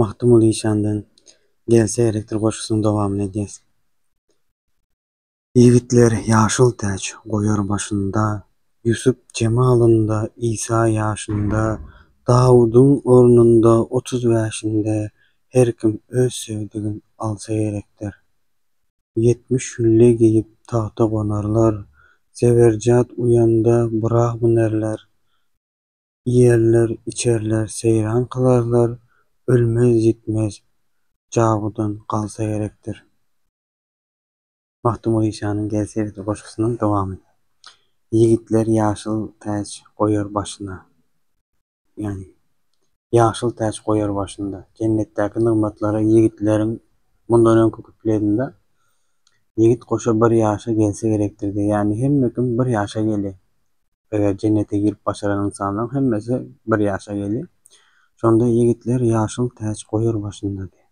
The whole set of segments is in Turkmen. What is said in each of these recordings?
Magtymguly işandan Gelse elektr goşgusynyň dowamyny edýäs. Ýigitler ýaşyl täç goýar başynda, Ýusup jemalynda, Isa ýaşynda, Dawudyň ornunda, otuz bäşinde, Her kim öz söýdügin alsa gerekdir. Ýetmiş hülle geýip tagta gonarlar, Zeberjat uýanda Byragmynerler, Iýerler, içerler, seýran kylarlar, ölmez-ýitmez jagudan galsa gerekdir. Magtymguly işanyň Gel serede goşgusynyň dowamy. Ýigitler ýaşyl täç goýar başyna. Ýagny, ýaşyl täç goýar başynda. Jennetdäki nygmatlara ýigitleriň mundan öňki kupledinde Ýigit goşa bir ýaşa gelse gerekdir diýýär. Ýagny hemme kim bir ýaşa gelýär. Eger jennete girip başaran ynsanlaryň hemmesi bir ýaşa geldi. Şonda ýigitler ýaşyl täç goýar başynda diýip.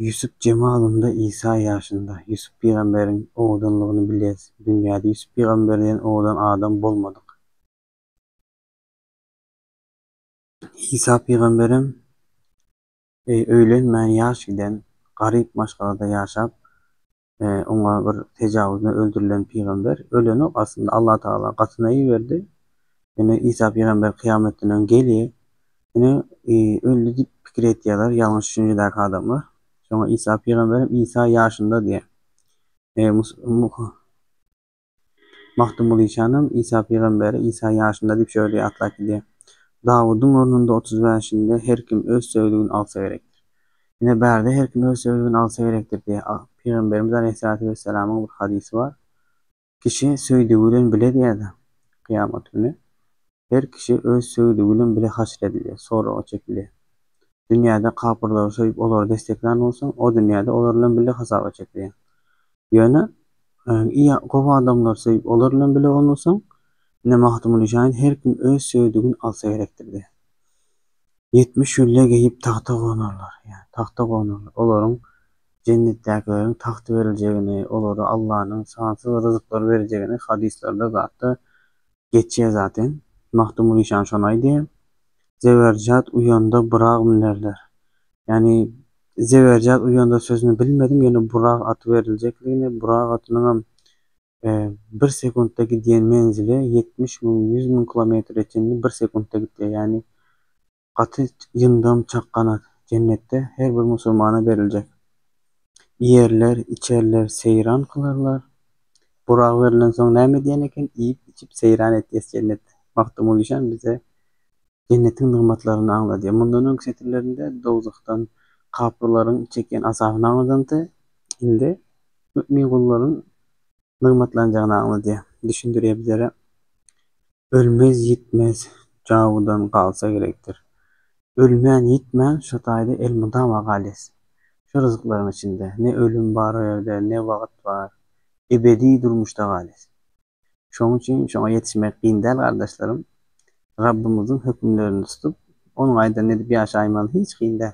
Ýusup jemalynda Isa ýaşynda. Ýusup pygamberiň owadanlygyny bilýäs. Dünýäde Ýusup pygamber diýen owadan adam bolmadyk. Isa pygamberem öýlenmän ýaş giden, garyp maşgalada ýaşap, Oňa bir tejawuzna öldürilen pygamber ölenok aslynda Allah Tagala gatynaýy berdi ýöne Isa pygamber kyýametden öň gelýe ýöne öldi diýip pikir etýäler ýalňyş düşünjedäki adamlar şoňa Isa pygamberem Isa ýaşynda diýýä Magtymguly Şanam Isa pygamberi Isa ýaşynda diýip şöyle ýatlap gidýär. Dawudyň ornunda otuz bäşinde Her kim öz söýligin alsa gerekdir. Ine bärde her kim öz söýligin alsa gerekdir diýýär. Pygamberimiz Aleýhissalatu wessalamyň bir hadysy bar. Kişi söýdügi bilen bile diýýär-de, kyýamat güni. Her kişi öz söýgi gülem bile haşr edilýär, soraga çekilýär. Dünýäde kapyrlary söýüp olary desseklän bolsaň, o dünýäde olar bilen bile hasaba çekilýäň. Ýöne, y gowy adamlary söýüp olar bilen bile bolmasaň, ine Magtymguly şaýyň her kim öz söýüdigin alsa gerekdir diýýär. Ýetmiş gülle geýip tagta gonarlar, ýa tagta gonarlar. Olaryň jennetdäkileriň tagty beriljegini, olara Allanyň sansyz ryzyklar berjegini hadyslarda zatda Geçýä zaten. Magtymguly işan şony aýdýa. Zeberjat uýanda Burak münerler. Ýani Zeberjat uýanda sözüni bilmedim ýöne Burak aty beriljekligini, Burak atynyňam bir sekuntda gidýän menzili ýetmiş müň, ýüz müň kilometre çenli bir sekuntda gidýä ýani Gaty ýyndam çakganat. Jennetde her bir musulmana beriljek. Iýerler, içerler, seýran kylarlar. Burak berilensoň näme diýen eken, iýip, içip, seýran etýäs jennetde. Magtymguly Işan bize jennetiň nygmatlaryny aňladýar. Mundan öňki setirlerinde dowzahdan kapyrlaryň çekýän azabyny aňladanydy. Indi mümin gullaryň Nygmatlanjagyny aňlady. Düşündirýär bizlere. Ölmez, ýitmez, jawudan galsa gerekdir. Ölmän, ýitmän şo taýda elmydama galýas. Şo ryzyklaryň içinde. Ne ölüm bar o ýerde, ne wagt bar. Ebedi durmuşda galýas. Şonuň üçin şoňa ýetişmek kyn däl gardaşlarym. Rabbymyzyň hökümlerini tutup, Onuň aýdanyny edip ýaşaýmaly hiç kyn däl.